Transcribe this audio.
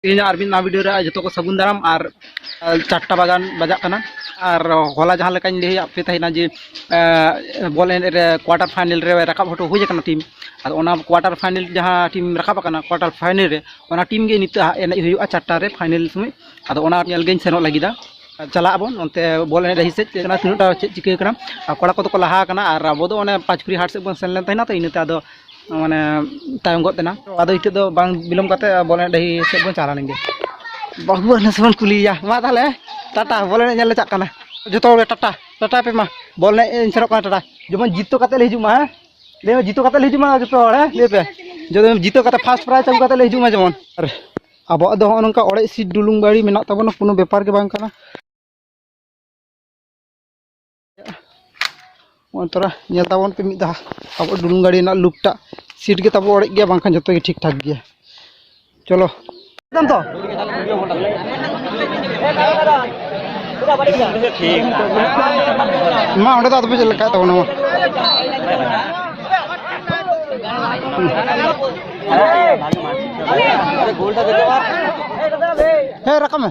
ᱛᱮᱦᱮᱧ ᱟᱨ ᱢᱤᱫ ᱱᱟᱣᱟ ᱵᱷᱤᱰᱤᱭᱳ ᱨᱮ ᱡᱚᱛᱚ ᱠᱚ ᱥᱟᱹᱜᱩᱱ ᱫᱟᱨᱟᱢ ᱟᱨ ᱪᱟᱨᱴᱟ ᱵᱟᱜᱟᱱ ᱵᱟᱡᱟᱜ ᱠᱟᱱᱟ ᱟᱨ ᱦᱚᱞᱟ ᱡᱟᱦᱟᱸ ᱞᱮᱠᱟᱧ ᱞᱟᱹᱭ ᱟᱫ ᱯᱮ ᱛᱟᱦᱮᱱᱟ ᱡᱮ ᱵᱚᱞ ᱮᱱᱮᱡ ᱨᱮ ᱠᱳᱣᱟᱴᱟᱨ ᱯᱷᱟᱭᱱᱮᱞ ᱨᱮ ᱨᱟᱠᱟᱵ ᱦᱚᱴᱚ ᱦᱩᱭ ᱟᱠᱟᱱᱟ ᱴᱤᱢ ᱟᱫᱚ ᱚᱱᱟ ᱠᱳᱣᱟᱴᱟᱨ ᱯᱷᱟᱭᱱᱮᱞ ᱡᱟᱦᱟᱸ ᱴᱤᱢ ᱨᱟᱠᱟᱵ ᱟᱠᱟᱱᱟ ᱠᱳᱣᱟᱴᱟᱨ ᱯᱷᱟᱭᱱᱮᱞ ᱨᱮ ᱚᱱᱟ ᱴᱤᱢ ᱜᱮ ᱱᱤᱛᱚᱜ ᱮᱱᱮᱡ ᱦᱩᱭᱩᱜᱼᱟ ᱪᱟᱨᱴᱟ ᱨᱮ ᱯᱷᱟᱭᱱᱮᱞ ᱥᱚᱢᱚᱭ ᱟᱫᱚ ᱚᱱᱟ ᱧᱮᱞ ᱜᱤᱧ ᱥᱮᱱᱚᱜ ᱞᱟᱹᱜᱤᱫᱟ ᱪᱟᱞᱟᱜ ᱟᱵᱚᱱ ᱚᱱᱛᱮ ᱵᱚᱞ ᱮᱱᱮᱡ ᱰᱟᱹᱦᱤ ᱥᱮᱫ ᱛᱤᱱᱟᱹᱜᱴᱟ ᱪᱮᱫ ᱪᱤᱠᱟᱹ ᱠᱟᱱᱟ ᱠᱚᱲᱟ ᱠᱚᱫᱚ ᱠᱚ ᱞᱟᱦᱟ ᱟᱠᱟᱱᱟ ᱟᱨ ᱟᱵᱚ ᱫᱚ ᱚᱱᱮ ᱯᱟᱸᱪ ᱠᱩᱲᱤ ᱦᱟᱴ ᱥᱮᱫ ᱵᱚᱱ ᱥᱮᱱ ᱞᱮᱱ ᱛᱟᱦᱮᱱᱟ ᱛᱚ ᱤᱱᱟᱹᱛᱮ ᱟᱫᱚ ᱢᱟᱱᱮ ᱛᱟᱭᱚᱢ ᱜᱚᱫ ᱮᱱᱟ ᱟᱫᱚ ᱱᱤᱛᱚᱜ ᱫᱚ ᱵᱟᱝ ᱵᱤᱞᱚᱢ ᱠᱟᱛᱮ ᱵᱚᱞ ᱮᱱᱮᱡ ᱰᱟᱹᱦᱤ ᱥᱮᱫ ᱵᱚᱱ ᱪᱟᱞᱟᱣ ᱞᱮᱱᱜᱮ ᱵᱟᱹᱵᱩ ᱱᱮᱥ ᱵᱚᱱ ᱠᱩᱞᱤᱭᱮᱭᱟ ᱢᱟ ᱛᱟᱦᱚᱞᱮ ᱴᱟᱴᱟ ᱵᱚᱞ ᱮᱱᱮᱡ ᱧᱮᱞ ᱞᱮ ᱪᱟᱜ ᱠᱟᱱᱟ ᱡᱚᱛᱚ ᱦᱚᱲ ᱴᱟᱴᱟ ᱴᱟᱴᱟ ᱯᱮ ᱢᱟ ᱵᱚᱞ ᱮᱱᱮᱡ ᱤᱧ ᱥᱮᱱᱚᱜ ᱠᱟᱱᱟ ᱴᱟᱴᱟ ᱡᱮᱢᱚᱱ ᱡᱤᱛᱟᱹᱣ ᱠᱟᱛᱮ ᱞᱮ ᱦᱤᱡᱩᱜ ᱢᱟ ᱦᱮᱸ ᱞᱟᱹᱭ ᱢᱮ ᱡᱤᱛᱟᱹᱣ ᱠᱟᱛᱮ ᱞᱮ ᱦᱤᱡᱩᱜ ᱢᱟ ᱡᱚᱛᱚ ᱦᱚᱲ ᱦᱮᱸ ᱞᱟᱹᱭ ᱯᱮ ᱡᱚᱛᱚ ᱡᱤᱛᱟᱹᱣ ᱠᱟᱛᱮ ᱯᱷᱟᱥᱴ ᱯᱨᱟᱭᱤᱡᱽ ᱟᱹᱜᱩ ᱠᱟᱛᱮ ᱞᱮ ᱦᱤᱡᱩᱜ ᱢᱟ ᱡᱮᱢᱚᱱ ᱟᱨ ᱟᱵᱚᱣᱟᱜ ᱫᱚ ᱦᱚᱸᱜᱼᱚ ᱱᱚᱝᱠᱟ ᱚᱲᱮᱡ ᱥᱤᱴ ᱰᱩᱞᱩᱝ ᱜᱟᱹᱲᱤ ᱢᱮᱱᱟᱜ ᱛᱟᱵᱚᱱᱟ ᱠᱳᱱᱳ ᱵᱮᱯᱟᱨ ᱜᱮ ᱵᱟᱝ ᱠᱟᱱᱟ ᱱᱚᱜᱼᱚᱭ ᱛᱚᱨᱟ ᱧᱮᱞ ᱛᱟᱵᱚᱱ ᱯᱮ ᱢᱤᱫ ᱫᱷᱟᱣ ᱟᱵᱚ ᱰᱩᱞᱩᱝ ᱜᱟᱹᱰᱤ ᱨᱮᱱᱟᱜ ᱞᱩᱠᱴᱟ ᱥᱤᱴ ᱜᱮ ᱛᱟᱵᱚ ᱚᱲᱮᱡ ᱜᱮᱭᱟ ᱵᱟᱝᱠᱷᱟᱱ ᱡᱚᱛᱚ ᱜᱮ ᱴᱷᱤᱠ ᱴᱷᱟᱠ ᱜᱮᱭᱟ ᱪᱚᱞᱚ ᱛᱚ ᱢᱟ ᱚᱸᱰᱮ ᱫᱚ ᱟᱫᱚ ᱪᱮᱫ ᱞᱮᱠᱟ ᱛᱟᱵᱚᱱᱟ ᱢᱟ ᱦᱮᱸ ᱨᱟᱠᱟᱵ ᱢᱮ